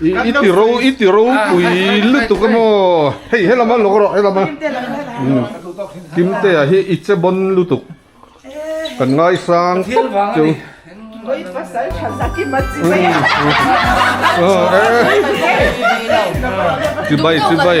I ti ro i ti ro pui lutuk emaw hei he lama lawk rawh he lama kimtea hi i che bawn lutuk kan ngai sang tawp chu oi pasal tha zat i mat chi mai a chibai chibai.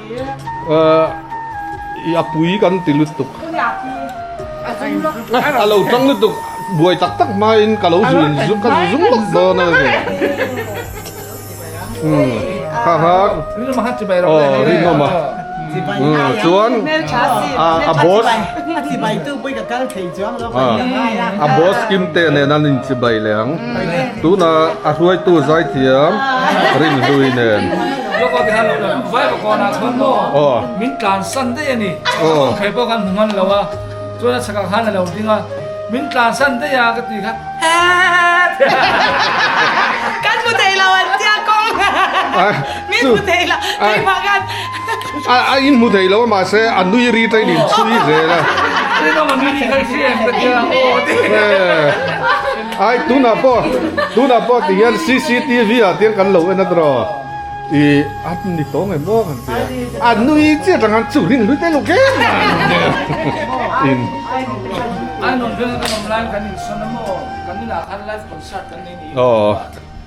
Ih a pui kan ti lutuk. A lo chang lutuk buai tak tak hmain ka lo zui in ka zu zung lawk dawn a ni. Haha rinawm a chuan a boss a boss Kim te nen an inchibai leh ang tunah a hruaitu zai thiam Rinhlui nen. Job a biaha lo la rawh vai bakua na chuan maw min tlan san daih a ni aw kei pawh kan hmu ngan lo a chuan a chhakah khan alo ding a min tlan san daih a ka ti kha kan hmu thei lo an tia kawng min hmu thei lo keimah khan a in hmu thei lo mah se a nui ri tain in chhui zel a. Ai tunah pawh tunah pawh ti hian cctv ah tiang kan lo en atro i an ni tawng em aw kan tia a nui chiat ang chu rin hlui te lo ke in an rawn veng a kan awm lai kan in sawn a maw kan inah khan live concert kan nei ni aw.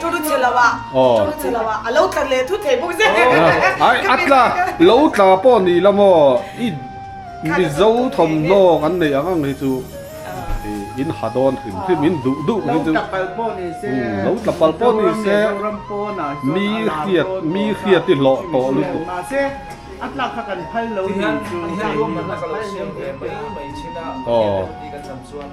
Chu chu chilh lo ah, chu chu chilh lo ah, a lo tla leh thu thei bawk zet. Ai a tla, lo tla pawh ni la maw, i mizo thawmhnaw kan nei ang ang hi chu in ha dawn hrim hrim in duh duh hi chu, lo tla pal pawh ni se, mi hriat mi hriat i hlawh tawh lutuk. Aw.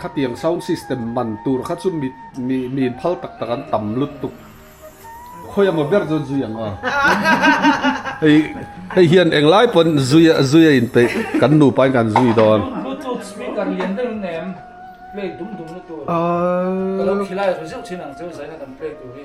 Khatiang sound system man tur kha chu mi miin phal tak tak an tam lutuk. Khawi emaw ber chuan zui ang aw. Hei hian eng lai pawn zui a zui a inpeih kan nupa in kan zui dawn. Bluetooth speaker lian deuh in nem play dum dum na tur ka lo khilai ru zeuh thin ang chu zaina kan play tur hi.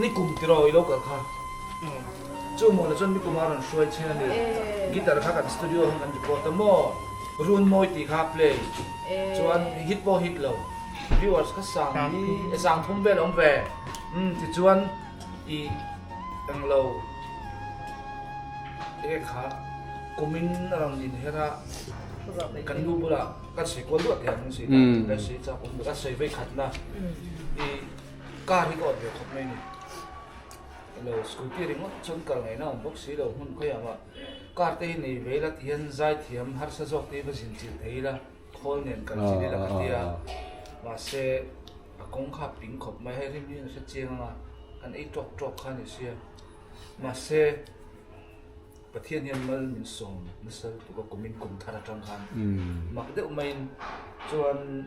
Ni kum tiraw i lo kal kha. Umm. Chu hmuh la chuan ni kuma rawn hruai chhin a ni. Guitar kha kan studio ah hian kan record ta maw? Run mawi tih kha play. Chuan hit pawh hit lo. Viewers kha sang hi e sang thum vel awm ve. Umm tichuan i eng lo te nge kha kumin a rawn din her a. Kan lu bulah kan sawi kual duah teh ang si. Kan sawi chak awm ve. Kan sawi vei khatna i Car hi ka awt ve khawp mai a ni. Lo scooty a ri ngawt chuan kal ngaihna a awm bawk si lo, hmun khawiah mah car te hi nei ve ila ti hian zai thiam harsa zawk te hi va zin chilh thei ila khawl nen kal chilh ila ka ti a. Mahse a kawng kha a ping khawp mai, hei hlim hi a ni hre chiang anga an ei tawk tawk kha a ni sia. Mahse Pathian hian mal min sawm nasal tuk a, kumin kum thar atang khan mak deuh maiin chuan,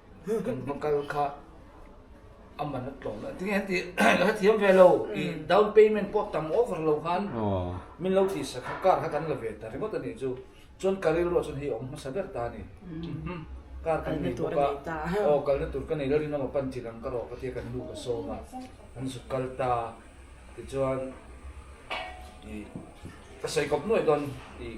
kan hma kal kha a man a tlawm lo. Tinge heti ka hre thiam ve lo, i down payment pawh tam over lo khan min lo ti sa kha, car kha kan la ve ta ringawt a nih chu. Chuan ka rilru ah chuan hei a awm hmasa ber ta a ni. Car kan nei bawk a, aw kalna tur ka nei lo, rinawm a pan chi lang ka rawh ka ti a, kan nu ka sawm a, an zuk kal ta a. Tichuan i ka sawi kawp nuaih dawn i.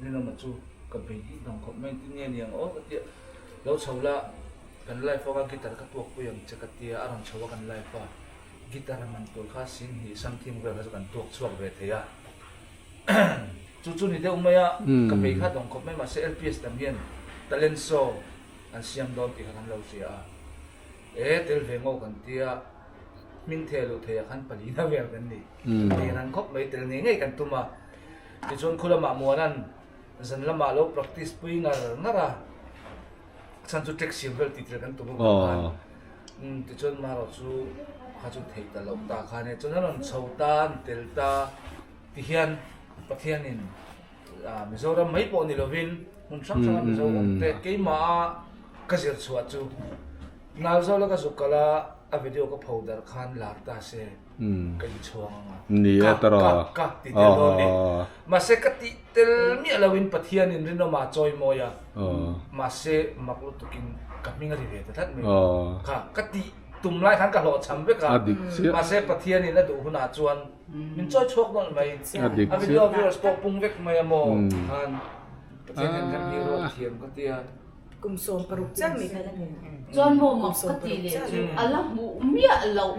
Ni lama chu ka bei hi hnam khawp mai, tin nge ni ang aw ka ti a, lo chho la kan life anga guitar ka tuak pui ang che ka ti a, a rawn chho a kan life a, guitar a man tur kha sin hnih sam thing vel kha chu kan tuak chhuak ve thei a, chu chu ni deuh mai a, ka bei kha dawng khawp mai mahse LPS dam hian talent show an siam dawn tih kha kan lo hria a, e tel ve ngaw kan ti a, hming thei a luh theih ah khan palina vel kan ni, tel ang khawp mai tel ngei ngei kan tum a. Tichuan khulamah muanan zan lamah lo practice pui ngar ngar a, chhan chu track siam vel tihtir kan tum avang khan umm tichuan Marawh chu kha chu theih ta loh ta khan e, chuan an rawn chho ta an tel ta ti hian Pathianin ah Mizoram mai pawh ni lovin hmun hrang hranga Mizo awmte keimah a ka zirchhuah chu nal zawk la ka zuk kalh a a video ka pho darh khan lar ta se. ka inchhuang anga ni e tara ka ti tel dawn ni mahse ka tih tel miah lo in pathian in rinawm a chawi mawi a mahse mak lutuk in ka hming a ri ve ta tlat mai kha ka ti tum lai khan ka hlawh chham vek a mahse pathian in a duh hun ah chuan min chawi chhuak dawn mai a video viewers pawh pung vek mai a maw han pathian hian kan hming rual thiam ka tia kum sawm paruk chiah mai khan a ni chuan maw mak ka tih leh chu a la hmuh miah loh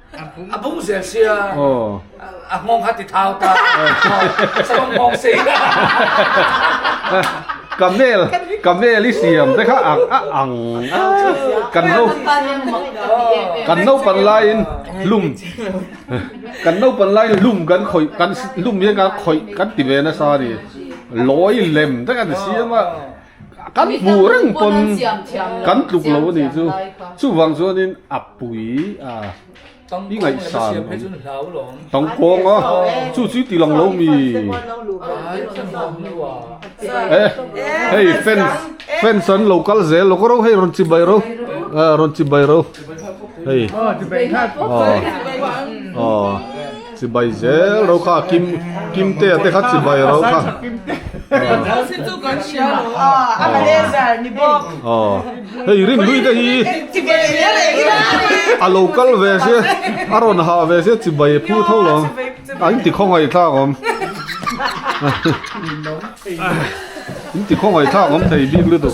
A bung zel sia. A nghawng kha ti thau ta. Sawm nghawng si. Camel, camel i siam te kha ang a ang. Kan no, kan no pan lai in lum, kan no pan lai in lum kan khawih, kan lum hian kan khawih kan ti ve nasa a ni. Lawi lem te kan siam a. Kan hmuh reng pawn kan tluk lo a nih chu. Chuvang chuanin a pui a, i ngaihsan awm. Tangkawng a, chu chu i ti lang lo mi. E, hei fans, fans an lo kal zel lawk a rawh hei, rawn chibai ro, rawn chibai ro hei. Aw, aw. Chibai zel ro kha kim kim te te kha chibai ro kha chu kan hria lo a a la le zar ni bawk aw hei rim lui te hi chibai zel e hi a lo kal ve sia a rawn ha ve sia chibai phu tho lo an ti khawngaih thlak awm in ti khawngaih thlak awm thei bik lutuk.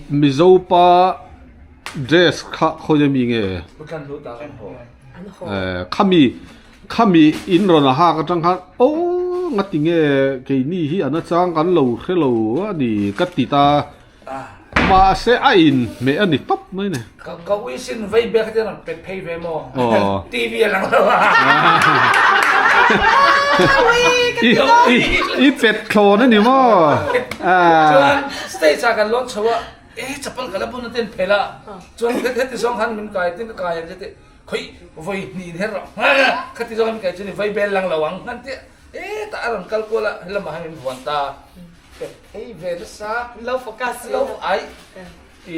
Mizo pa dress kha khawina mi nge? Khami khami in rawn a hak atang khan oh ngati nge keini hi ana chang kan lo hrelo a ni ka ti ta mahse a in hmeh a ni tawp mai a ni. Ka ka ui sin vei bek te rawn pet phei ve maw TV a lang lo i pet thlawn a ni maw chuan stage ah kan lawn chho a e chapal ka la bun aten phel a chuan heti zawng khan min kai tin ka kai ang che tih khawih vawi hnih in her lo khati zawng min kai chu ni vei bel lang lo ang han tia e tah a rawn kal kual a he lamah hian min vuan ta pet phei ve nasa lo focus lo ai i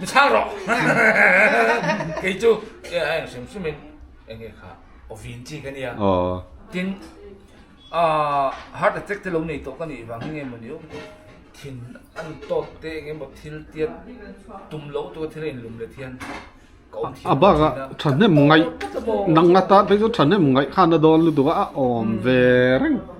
mi chhang rawh kei chu e ai hrim hrim in eng nge kha ovin chi ka nia tin a heart attack te lo nei tawh ka nih vang hi nge maw ni awm thin an tawt te eng emaw thil tiat tum lo tu thil in lum le thian a bak a thahnem ngai nang ata phei chu thahnem ngai khan a dawn lutuk a a awm ve reng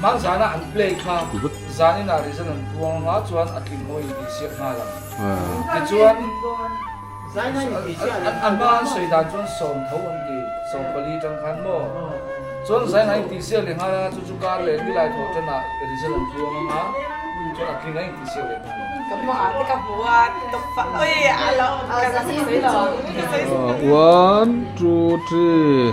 Hmang zana an play kha zanin ah rehzan an puang anga chuan a tling maw intih siak nghal ang. Tichuan an hma an sawi dan chuan sawm tho an ti, sawm pali tang khan maw. Chuan zaina intih siak leh nghal anga chu chu kar leh milai thaw tan ah rehzan an puang anga chuan a tling a intih siak leh nghal ang. Ka hma ah te ka hmu a, one two three.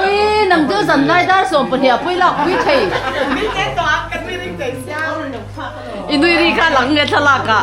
Ui nang dil zanlai dar sawm pahnih a pawi lak pui thei. I nui ri kha lang nge thlalak ah.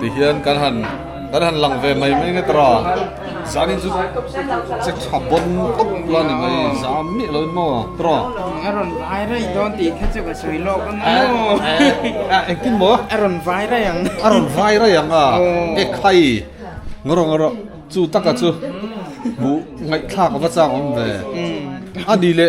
Tihian kan han kan han lang ve mai mai nge tara zan in chu che tha bon tawp la ni mai zan miah loin maw tara a rawn vai raih dawn tih kha chu ka sawi lawk ang a engtin maw a rawn vai raih ang a rawn vai raih ang a e khai ngaw rawh ngaw rawh chu taka chu hmuh ngaihthlak ava chang awm ve a ni le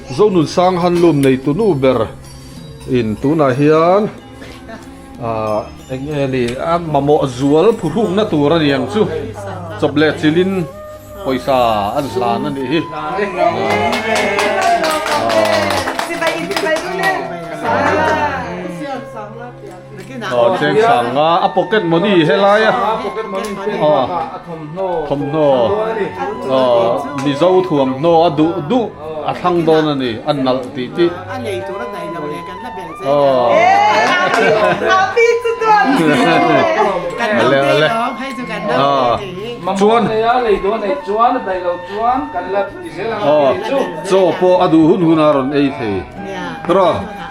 Zonun sang handloom nei tu nu ber in tunah hian ah eng nge ni a mamawh zual phuhruk na tur ani ang chu chawp leh chilh in pawisa an hlan anih hi ah. Aw cheng sang nga a pocket money hi helai a aw thawmhnaw aw mizo thuamhnaw a duh duh a thlang dawn a ni a nalh tih tih aw ale ale aw chuan aw chaw pawh a duh hun hun a rawn ei thei rawh.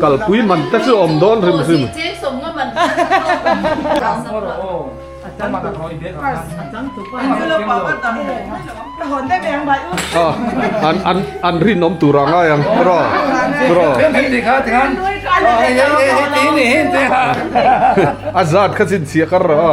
Kalpui man te chu awm dawn hrim hrim. An rin awm tur ang ai ang bro. A zat kha chin chhiah kar lo a.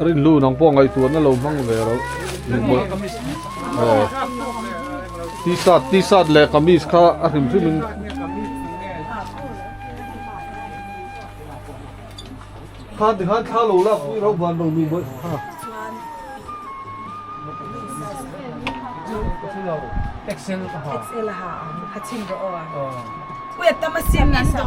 Rinlu nang pawh ngaihtuah na lo hmang ve rawh. T-shirt, T-shirt leh kamis kha a hrim hrim in. Khan ti khan thla lo lak pui ro van lo nu mai kha. Excel ha. Excel ha. Ha chim ro a. Puya tama sim in do.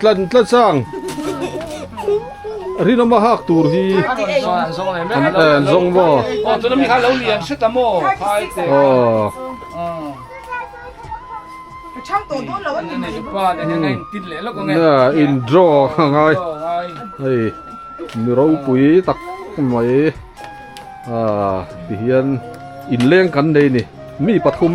tlan tla chang rinawma hak tur hi an zawng maw aw tuna mi kha lo lian hre ta maw khai te aw chang to don lo an ni mai pa te heng heng tit le lawk nge na in draw ngai hei mi ro pui tak mai a ti hian in leng kan nei ni mi pathum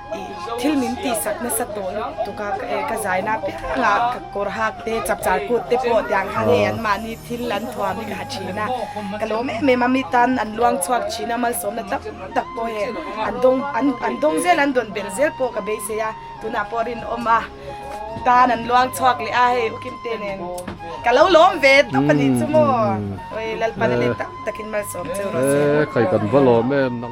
thil min tihsak nasa tawh lutuk lutuk a ka eh ka zai na piang a ka kawr hak te chap char kut te pawh tiang kha nge an mahni thil an thuam hi ka ha thin a ka lawm em em a mi tan an luang chhuak thin a malsawmna tam tak pawh he an dawng an an dawng zel an dawn ber zel pawh ka beisei a tunah pawh a rinawm a tan an luang chhuak leh a hei u kimte nen ka lo lawm ve tawp a ni chu maw lalpanale tam takin malsawm chu rose a ni.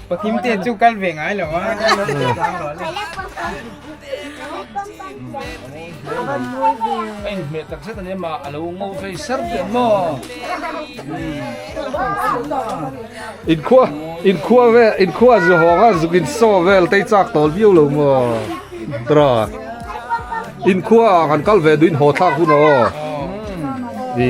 Patling te chu kal ve ngai lo a. Ai me tak zet ani ma alo ngo ve ser ve mo. In khua in khua ve in khua zu honga zukin so vel tei chak tol viu lo mo. Dra. In khua kan kal ve duin ho thlak hun o. Di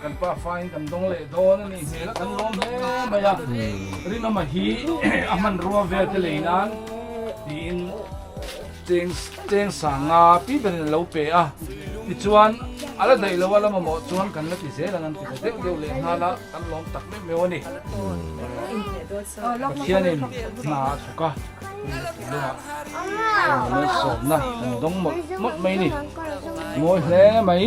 Kan pa faiin kan dawng leh dawn a nih hmel a, kan lawm hle mai a, ring ama hi a hman rua vel te lei nan tiin cheng cheng sanga pi ber in an lo pe a, tichuan a la daih loh a lam amaw chuan kan la ti zel ang an ti ta deuh deuh leh nghal a, kan lawm tak meuh meuh a ni. Pathianin hna a thawk a, tui leh tui lengah kan awm leh sawmna kan dawng mawlh mawlh mai a ni, mawi hle mai.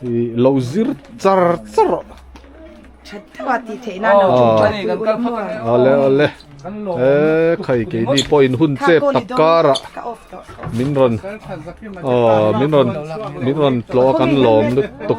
thì lo zir char char chat thua ti thei na no chung chat pui ul mo ale ale e khai ke ni po in hun chep tak kara min ron ờ min ron min ron tlo kan lawm lutuk